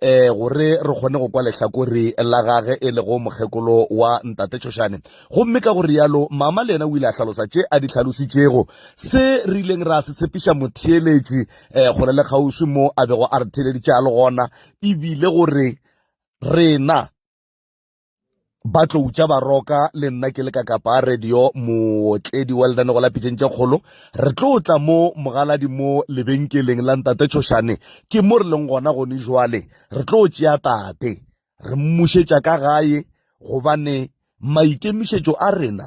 eh gore re kgone go kwa lehlakore la gage e lego mokgekolo wa ntate tšhošane gomme ka go rialo mama le yena o ile a hlalosa tše a di hlalositšego se re ileng ra se tshepiša motheeletši eh gore le kgauswi mo a bego a re theeleditše a le gona ebile gore rena ba tloutša baroka le nna ke le ka kapa a radio mootledi wa lenane go la pitšeng tše kgolo re tlo tla mo mogaladi mo lebenkeleng la ntate tshošane ke mo re leng gona gone jwale re tlo tšea tate re mmušetša ka gae gobane maikemišetšo a rena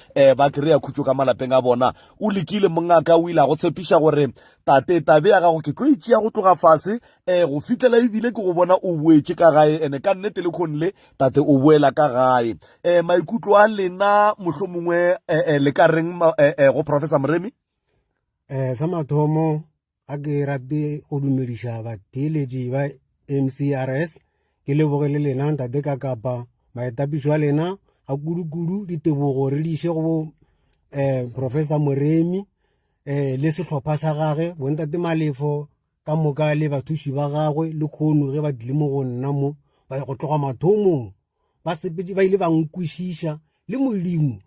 um ba kry-a khutšo ka malapeng a bona o lekile mongaka o ile a go tshepiša gore tate tabe ya gago ke tlo e tšea go tloga fase um go fitlela ebile ke go bona o boetše ka gae ande ka nnete le kgone le tate o boela ka gae um maikutlo a lena mohlho mongwe um le ka reng go professor moremi um sa mathomo ga ke rate go dumediša batheeletši ba mcrs ke leboge le lena ntate ka kapa maetapišo a lena ga kudu-kudu ditebogo re diše go bo um professor moremi um le sehlopha sa gage bontate malefo ka moka le bathuši ba gagwe le kgono ge ba dile mo go nna mo ba go tloga mathomong basepedi ba ile ba nkwešiša le modimo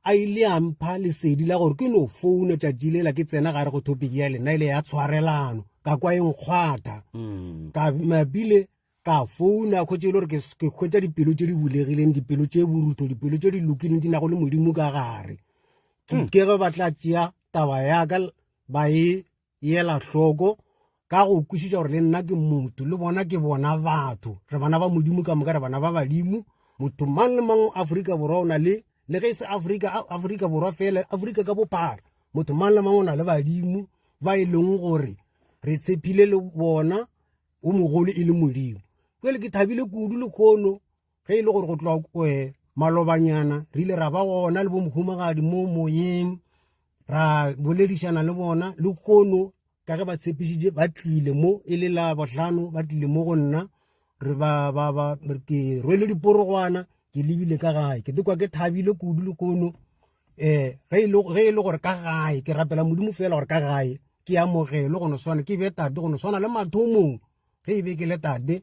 a ile a mpha lesedi la gore ke no founa tšatši lela ke tsena gare go topic ya lena ile ya tshwarelano ka kwa e nkgwatha mm. ka mabile ka founa kgwetse e le gore ke kgwetsa dipelo tse di bulegileng dipelo tse borutho dipelo tse di lokileng di nago le modimo ka gare ke mm. ke ge ba tla tšea taba yaka ba e ela hloko ka go kwešiša gore le nna ke motho le bona ke bona batho re bana ba modimo ka moka re bana ba badimo motho mang le mang aforika borwa o na le le ge e se aforika aforika borwa fela aforika ka bophara motho mang le mang o na le badimo ba e leng gore re tshepile le bona o mogolo e le modimo jale ke thabile kudu le kgono ge e le gore go tloa eh, malobanyana re ile ra ba gona le bomhumagadi mo moyeng ra boledišana le bona le kono ka ge ba tshepišitše ba tlile mo e le la bohlano ba tlile mo go nna re ba ba ba ke rwele diporogwana ke lebile ka gae ke tekwa ke thabile kudu le kono um ge e le gore ka gae ke rapela modimo fela gore ka gae ke amogelo go no swana ke be tate go no swana le mathomong ge e be ke le tate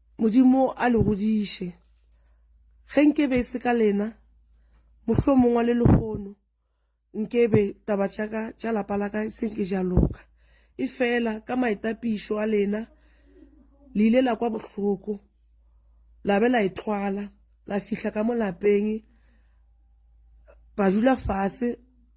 Modimo a le godiše. Ge nke be e se ka lena, mohlomongwa le lehono nke be taba tša ka tša lapa la ka e se nke ja loka. E fela ka maitapišo a lena, le ile la kwa bohloko, la be la e tlwala, la fihla ka mo lapeng, ra dula fase,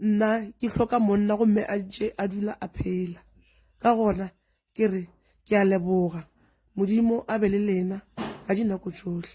nna ke hloka monna gomme a ntše a dula a phela ka gona ke re ke a leboga modimo a be le lena ka dinako tšohle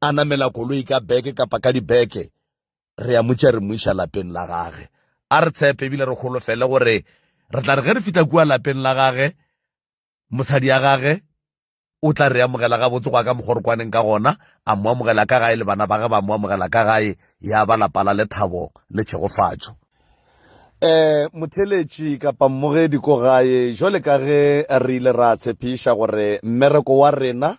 a namela koloi ka beke kapa ka dibeke re ya motša re moiša lapeng la gage a re tshepe ebile re kgolofele gore re tla re ge re fitlha kua lapeng la gage mosadi ya gage o tla re amogela gabotse go ya ka mokgwa re kwaneng ka gona a mo amogela ka gae le bana ba ge ba mo amogela ka gae ya ba lapa la lethabo le tšhegofatšo eh motheletši kapa mmogedi ko gae jole ka ge re ile ra tshepiša gore mmereko wa rena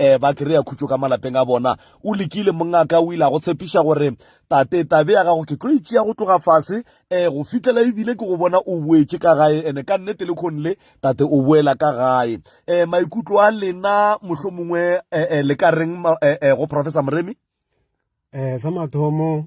um ba kry-a khutšo ka malapeng a bona o lekile mongaka o ile a go tshepiša gore tate tabe ya gago ke tlo itšea e go tloga fase um go fitlhela ebile ke go bona o boetše ka gae and-e ka nnete le kgone le tate o boela ka gae um maikutlo a lena mohlho mongwe um le ka reng um go professor moremi um sa mathomo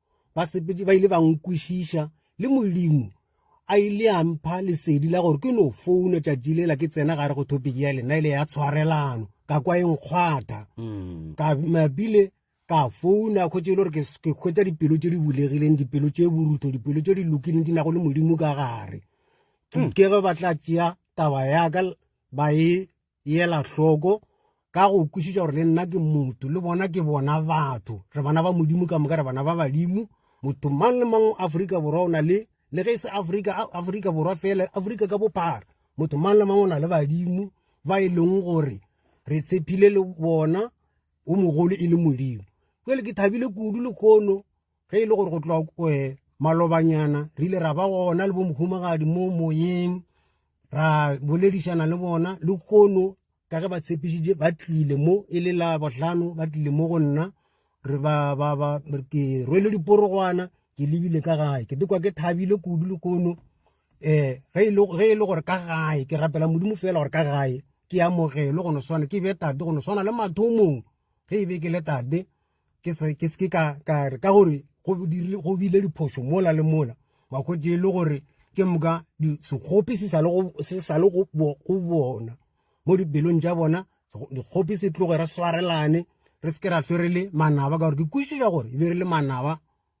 basepedi ba ile ba nkwešiša le modimo a ile a mpha lesedi la gore ke no founa tšatši lela ke tsena gare go topic ya lena ile ya tshwarelano ka kwa e nkgwatha mm. ka mabile ka founa kgwetse e le gore ke kgwetsa dipelo tse di bulegileng dipelo tse borutho dipelo tse di lokileng di nago le modimo ka gare mm. ke ge ba tla tšea taba yaka ba e yela hloko ka go kwešiša gore le nna ke motho le bona ke bona batho re bana ba modimo ka moka re bana ba badimo motho mang le mang aforika borwa o na le le ge e se aforika aforika borwa fela aforika ka bophara motho mang le mang o na le badimo ba e leng gore re tshepile le bona o mogolo e le modimo jale ke thabile kudu le kgono ge e le gore go tloa kwe malobanyana re ile ra ba gona le bomhumagadi mo moyeng ra boledišana le bona le kono ka ge ba tshepišitše ba tlile mo e le la bohlano ba tlile mo go nna re ba ba ba ke rwele diporogwana ke lebile ka gae ke dikwa ke thabile kudu le kono um ge e le gore ka gae ke rapela modimo fela gore ka gae ke amogelo go no swana ke be tate go no swana le mathomong ge e be ke le tate ke seke ka re ka gore go bile diphošo mola le mola wa kwetse e le gore ke moka sekgopi se sa le go bona mo dipelong tša bona dikgopi se tloge re swarelane re seke ra hlwe re le manaba ka gore ke kwešiša gore e be re le manaba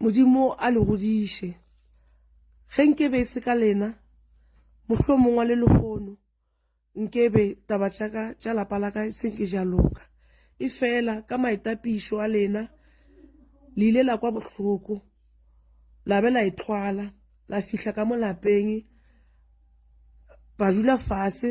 Modimo a le godiše. Ge nke be e se ka lena, mohlomongwa le lehono nke be taba tša ka tša lapa la ka e se nke ja loka. E fela ka maetapišo a lena, le ile la kwa bohloko, la be la e thwala, la fihla ka mo lapeng, ra dula fase,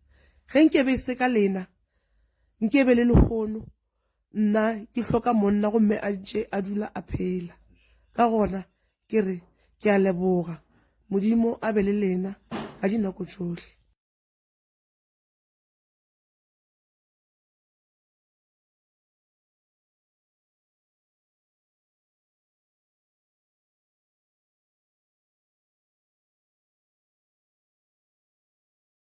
Ge nke be e se ka lena, nke be le lehono nna ke hloka monna gomme a ntše a dula a phela. Ka gona ke re ke a leboga. Modimo a be le lena ka dinako tšohle.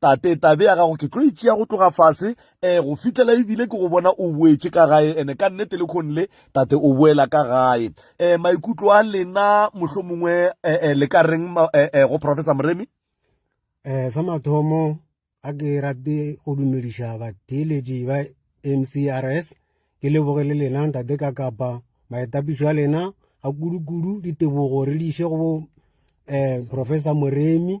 tate tabe ya gago ke tlo itšea go tloga fase um go fihlela ebile ke go bona o boetše ka gae ene ka nnete le kgone le tate o boela ka gae um maikutlo a lena mohlho mongwe um um le ka reng um go professor moremi um sa mathomo ga ke rate go dumediša batheeletši ba mcrs ke leboge le lena ntate ka kapa maetapišo a lena ga kudu-kudu ditebogo re diše go um professor moremi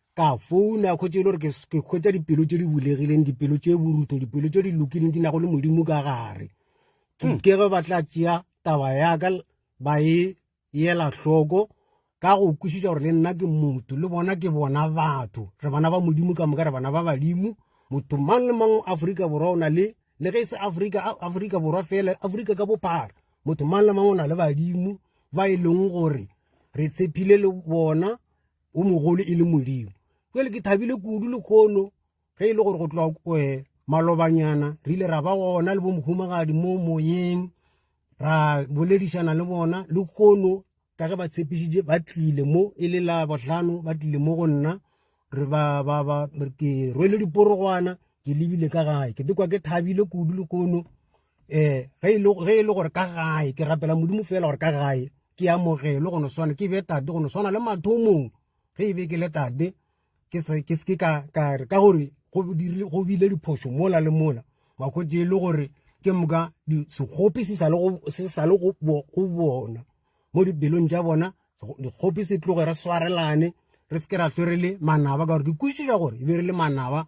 ka founa khotse e le gore ke kgwetsa dipelo tse di bulegileng dipelo tse borutho dipelo tse di lokileng di nago le modimo ka gare ke hmm. ge ba tla tšea taba yaka ba e yela hloko ka go kwešiša gore le nna ke motho le bona ke bona batho re bana ba modimo ka moka re bana ba badimo motho mang le mang aforika borwa o na le le ge e se aforika aforika borwa fela aforika ka bophara motho mang le mang o na le badimo ba e leng gore re tshepile le bona wo mogolo e le modimo jale ke thabile kudu lehono ge e le gore go tloga um eh, malobanyana re ile ra ba gona le bomhumagadi mo moyeng ra boledišana le bona le kono ka ge ba tshepišitše ba tlile mo e le la bohlano ba tlile mo go nna re ba ba ba ke rwele diporogwana ke lebile ka gae ke tekwa ke thabile kudu le kono um ge e le gore ka gae ke rapela modimo fela gore ka gae ke amogelo go no swana ke be tate go no swana le mathomong ge e be ke le tate ke se ke se ka ka re ka gore go dire go bile diphoso mola le mola wa go je le gore ke moka di se gope se sa le go se sa le go go bona mo di belong ja bona di gope se tloge re swarelane re se ke ra tlore le manaba ka gore di kwishiša gore e be re le manaba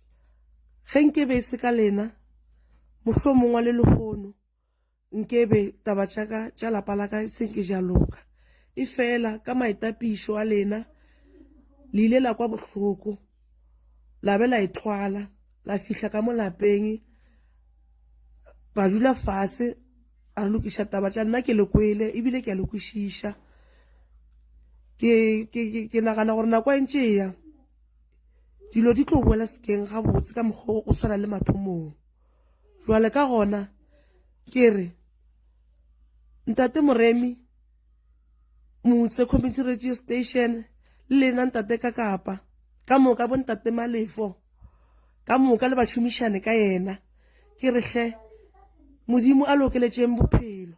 ge nke be e se ka lena mohlo mongwa le lehono nke be taba tšaka tša lapa la ka e senke ja loka e fela ka maetapišo a lena le ile la kwa bohloko la be la e thwala la fihla ka mo lapeng ra dula fase ra lokiša taba tša nna ke le kwele ebile ke a le kwešiša ke nagana gore nako e ntše ya Dilo di tlo boela sekeng gabotse ka mokgwa o swana le mathomong. Jwale ka gona ke re ntate Moremi motse community radio station le lena ntate ka kapa ka moka bo ntate Malefo ka moka le bašomišane ka yena ke re hle modimo a lokeletšeng bophelo.